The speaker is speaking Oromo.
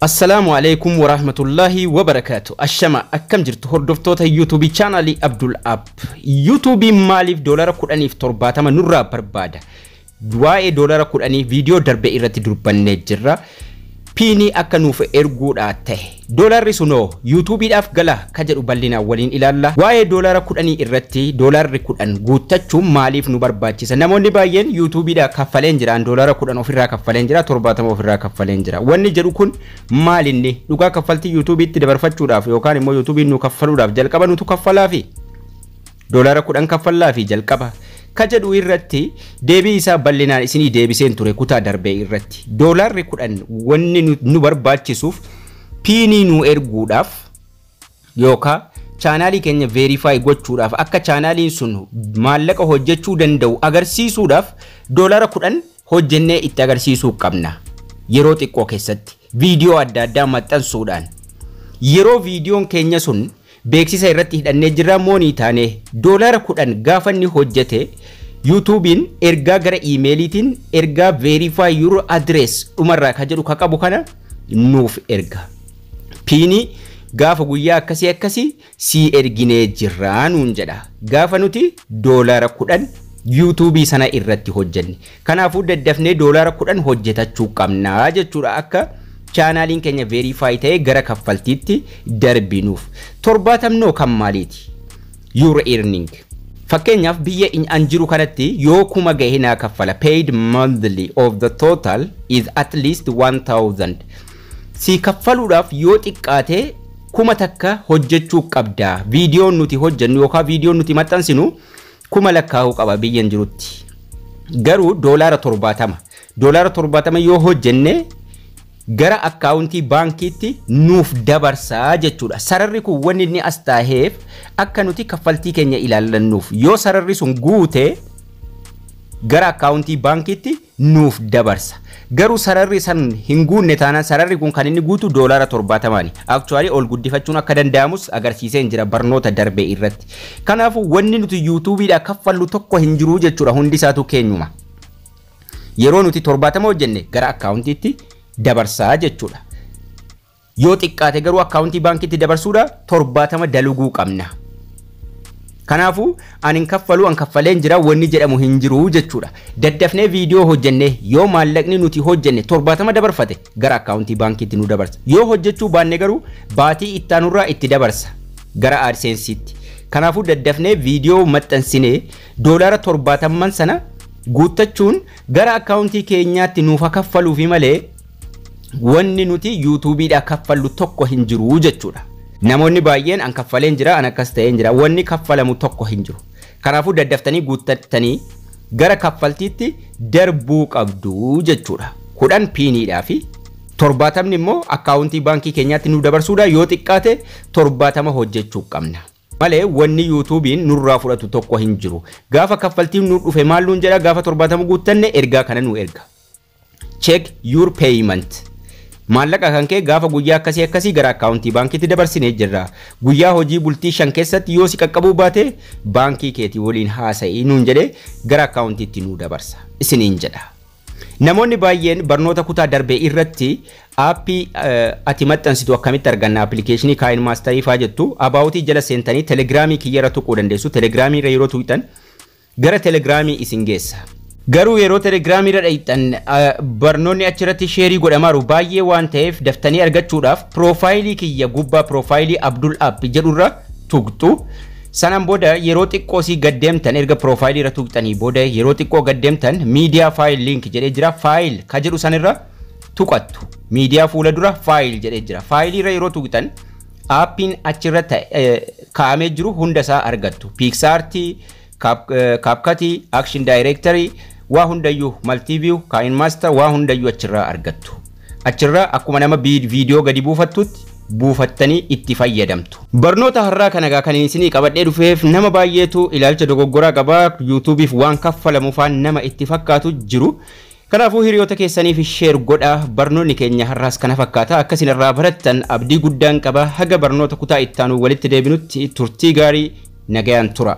Assalaamu Aleeykum Waraahmatullaahi Wabarakaatu Ashama akkam jirtu hordoftoota YouTube channel Abdul App YouTube maaliif doolara 10 fi 70 nurraa barbaada waa'ee doolara 10 viidiyoo darbe irratti durbannee jirra piinii akka nuuf erguudhaa ta'e doolarri sunoo YouTube dhaaf gala ka jedhu bal'inaan waliin ilaalla. Waa'ee doolaara kudhanii irratti doolaarri kudhan guuttachuun maaliif nu barbaachisa? Namoonni baay'een yuutuubiidhaa kaffaleen jira, an doolaara kudhan ofirraa kaffaleen jira, torbaatama ofirraa kaffaleen jira. Wanni jedhu kun maal inni? Dhugaa kaffaltii yuutuubiitti dabarfachuudhaaf yookaan immoo yuutuubiin nuu kaffaluudhaaf jalqaba nutu kaffalaafi? Doolaara kudhan kaffallaafi jalqaba? Ka jedhu irratti deebii isaa bal'inaan isinii deebiseen ture kutaa darbee irratti. Doolaarri kudhan wanni nu barbaachisuuf piinii nuu erguudhaaf yookaa chaanaalii keenya veerifaayi gochuudhaaf akka chaanaaliin sun maallaqa hojjechuu danda'u agarsiisuudhaaf doolara kudhan hojjennee itti agarsiisuu qabna. Yeroo xiqqoo keessatti viidiyoo adda addaa maxxansuudhaan yeroo viidiyoon keenya sun beeksisa irratti hidhannee jirra moonii taanee doolara kudhan gaafa inni hojjete yuutuubiin ergaa gara iimeeliitiin ergaa veerifaayi yuuroo adirees dhumarraa ka jedhu ka qabu kana nuuf erga. piinii gaafa guyyaa akkasii akkasii sii erginee jirraa nuun jedha. Gaafa nuti doolaara kudhan yuutuubii sana irratti hojjenne. Kanaafuu daddafnee doolaara kudhan hojjetachuu qabnaa jechuudha akka chaanaaliin keenya veeriifaayi ta'ee gara kaffaltiitti darbinuuf. Torbaatamnoo kan maaliiti? Your earning. Fakkeenyaaf biyya an jiru kanatti yoo kuma gahe naa kaffala. Paid monthly of the total is at least 1000. sii kaffaluudhaaf yoo xiqqaate kuma takka hojjechuu qabda. Viidiyoon nuti hojjennu yookaan viidiyoon nuti maxxansinu kuma lakkaa'uu qaba biyyan jirutti. Garuu doolaara torbaatama. Doolaara torbaatama yoo hojjenne gara akkaawuntii baankiitti nuuf dabarsaa jechuudha. Sararri kun wanni inni as taaheef akka nuti kaffaltii keenya ilaallannuuf. Yoo sararri sun guute gara akkaawuntii baankiitti nuuf dabarsa. Garuu sararri san hin guunne taanaan sararri kun kan inni guutu doolaara 70ni. Actually ol guddifachuun akka danda'amus agarsiiseen jira barnoota darbe irratti. Kanaafuu wanni nuti yuutuubiidhaa kaffallu tokko hin jiru jechuudha hundi isaatuu keenyuma. Yeroo nuti 70 hojjenne gara akkaawuntiitti dabarsaa jechuudha. Yoo xiqqaate garuu akkaawuntii baankiitti dabarsuudha torbaatama daluguu qabna. Kanaafuu ani hin kaffaluu an kaffaleen jira wanni jedhamu hin jiru jechuudha. Daddafnee viidiyoo hojjennee yoo maallaqni nuti hojjenne torbaatama dabarfate gara akkaawuntii baankiitti nu dabarsa. Yoo hojjechuu baanne garuu baatii ittaanurraa itti dabarsa gara AdSense'itti. Kanaafuu daddafnee viidiyoo maxxansinee doolaara torbaatamman sana guuttachuun gara akkaawuntii keenyaatti nuuf ha kaffaluufi malee wanni nuti yuutuubiidhaa kaffallu tokko hin jiru jechuudha. Namoonni baay'een an kaffaleen jira, an akkas ta'een jira. Wanni kaffalamu tokko hin jiru. Kanaafuu daddaftanii guuttattanii gara kaffaltiitti darbuu qabdu jechuudha. Kudhan piiniidhaa fi torbaatamni immoo akkaawuntii baankii keenyaatti nu dabarsuudha. Yoo xiqqaate torbaatama hojjechuu qabna. Malee wanni yuutuubiin nurraa fudhatu tokko hin jiru. Gaafa kaffaltiin nu dhufe maal nuun jedha gaafa torbaatama guuttanne ergaa kana nu erga. check your payment maallaqa kan kee gaafa guyyaa akkasii akkasii gara akkaawuntii baankiitti dabarsinee jirra guyyaa hojii bultii shan keessatti yoo si qaqqabuu baate baankii keetii waliin haasa'ii nuun jedhee gara akkaawuntiitti nuu dabarsa isiniin jedha. Namoonni baay'een barnoota kutaa darbe irratti aappii ati maxxansitu akkamitti arganna appilikeeshinii kaayin maastarii faa jettu abaawutii jala seentanii telegiraamii kiyyarra tuquu dandeessu telegiraamii irra yeroo tuqxan Gara Telegram isin geessa. Garuu yeroo Telegram irra dhayxan barnoonni achi irratti sheerii godhamaaru baay'ee waan ta'eef daftanii argachuudhaaf piroofaayilii kiyya gubbaa piroofaayilii Abdul App jedhu irra tuqxu. Sanaan booda yeroo xiqqoo sii gad deemtan erga piroofaayilii irra tuqxanii booda yeroo xiqqoo gad deemtan miidiyaa faayil liink jedhee jira faayil ka jedhu san irra tuqattu. Miidiyaa fuula dura faayil jedhee jira. Faayilii irra yeroo tuqxan aappiin achirra kaa'amee jiru hunda isaa argattu. Piiksaartii, Kaapkatii, Action Directory, waa hundayyuu Multiview, Kaa'in Master waa hundayyuu achirraa argattu. Achirraa akkuma nama viidiyoo gadi buufattutti buufattanii itti fayyadamtu. Barnoota har'aa kana egaa kan isinii qabadhee dhufeef nama baay'eetu ilaalcha dogoggoraa qaba. Yuutuubiif waan kaffalamu faan nama itti fakkaatu jiru. Kanaafuu hiriyoota keessaniif share godhaa. Barnoonni keenya har'aas kana fakkaata. Akka isin irraa barattan abdii guddaan qaba. Haga barnoota kutaa itti aanu walitti deebinutti turtii gaarii nagayaan tura.